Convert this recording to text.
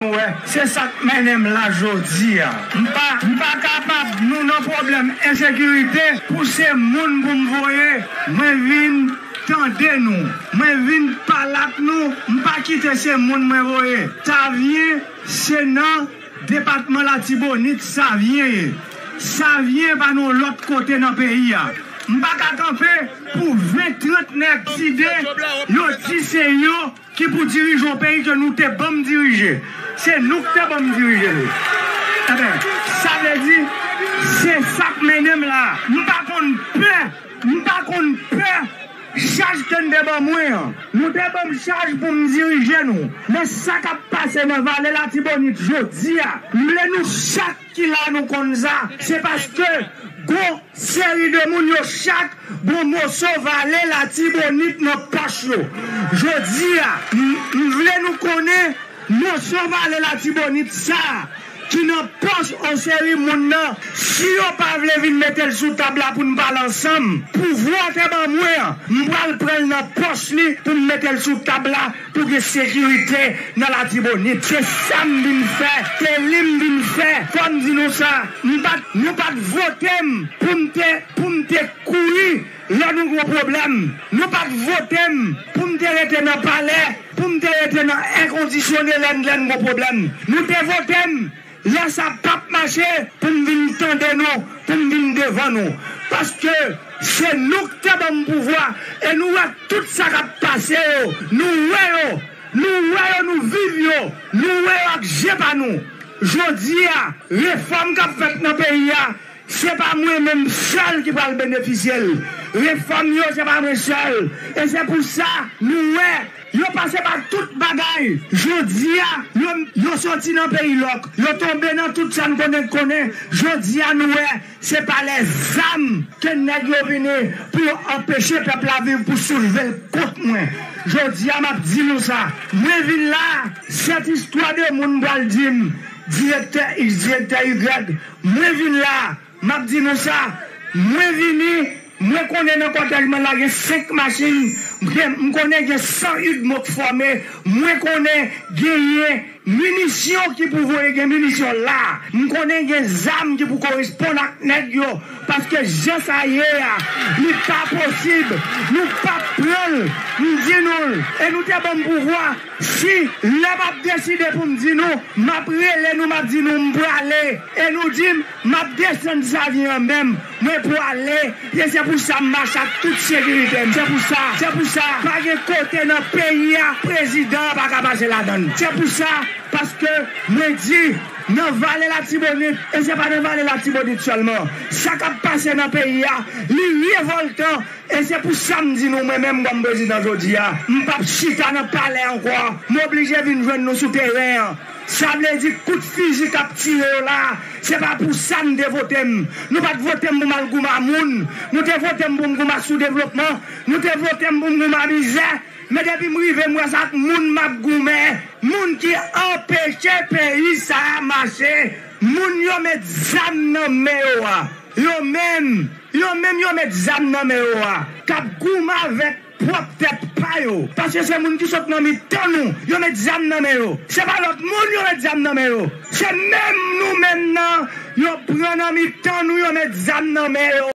Nou wè, se sa k mennen m la jodi a. M pa m pa kapab nou nan pwoblèm ensekirite pou se moun pou m voye. Mwen vin tande nou. Mwen vin pale ak nou. M pa kite se moun mwen voye. Savyen se nan depatman Latibonit Savyen ye. Savyen pa nan yon lòt kote nan peyi a. M pa ka kanpe pou ven trant nèg side yo di se yo. Ki pou dirije yon peyi ke nou te banm dirije. Se nou ki te banm dirije nou. Enben, sa vle di, se sa k mennen m la a. M pa konn pè, m pa konn pè chaj ke n te ban mwen an. Nou te banm chaj pou m dirije nou. Men sa k ap pase nan Vale Latibonit jodi a, m vle nou chak. Ki la nou konn sa? Se paske gon seri de moun yo chak gon moso vale latibonit nan pòch yo. Jodi a, m vle nou konnen moso vale latibonit sa ki nan pòch on seri moun nan, si yo pa vle vin mete l sou tab la pou n pale ansanm, pouvwa te ban mwen an, m pral pran l nan pòch li pou m mete l sou tab la. Pou gen sekirite nan Latibonit. Se sa m vin fè. Se li m vin fè. Fò m di nou sa. M pa t, nou pa t vote m pou m te, pou m te kouri lè nou gen yon pwoblèm. Nou pa t vote m pou m te rete nan palè, pou m te rete nan èkondisyone lè n, lè n gen yon pwoblèm. Nou te vote m Lè sa pap mache pou m vin tande nou, pou m vin devan nou. Paske se nou k te ban m pouvwa e nou wè tout sa k ap pase yo. Nou wè yo, nou wè yo, nou viv yo, nou wè yo ak je pa nou. Jodi a, refòm k ap fèt nan peyi a, Se pa mwen menm sèl ki pral benefisye l. Refòm yo se pa mwen sèl. E se pou sa nou wè yo pase pa tout bagay jodi a. Yo yo soti nan peyi lòk. Yo tonbe nan tout sa n konnen k konnen. Jodi a nou wè se pa lè zam ke nèg yo vini pou yo anpeche pèp la viv pou soulve l kont mwen. Jodi a m ap di nou sa. Mwen vin la, sèt istwa de moun pral di m, direktè iks, direktè ygrèg. Mwen vin la, m ap di nou sa, mwen vini, mwen konnen nan kòtèj mwen la gen 5 machin, m konnen gen 100 udmo k fòme, mwen konnen genyen minisyon ki pou voye gen minisyon la, m konnen gen zam ki pou koresponn ak nèg yo, paske jan sa ye a, li pa posib, nou p ap pran l, m di nou l, e nou te ban m pouvwa. Si, lè m ap deside pou m di nou, m ap rele nou, m ap di nou, M prale, e nou di m, M ap desann Savyen an menm, mwen prale, e se pou sa m mache ak tout sekirite m, se pou sa, se pou sa, pa gen kote nan peyi a prezidan an pa ka pase ladan l, se pou sa, paske mwen di, nan Vale Latibonit, e se pa nan Vale Latibonit sèlman, sa k ap pase nan peyi a, li revòltan. E se pou sa m di nou mwen menm kòm prezidan jodi a, m p ap chita nan palè ankò, m oblije vin jwenn nou sou teren an. Sa vle di kout fiji k ap tire yo la a, se pa pou sa n te vote m. Nou pa t vote m pou m al gouman moun, nou te vote m pou m gouman soudevlopman, nou te vote m pou m gouman mizè, men depi m rive m wè se ak moun m ap goumen, moun ki anpeche peyi sa a mache, moun yo met zam nan men yo a. Yo menm, yo menm yo met zam nan men yo a, k ap goumen avèk pwòp tèt pa yo, paske se moun ki sot nan mitan nou, yo met zam nan men yo. Se pa lòt moun yo met zam nan men yo, se menm nou menm nan yo pran nan mitan nou, yo met zam nan men yo.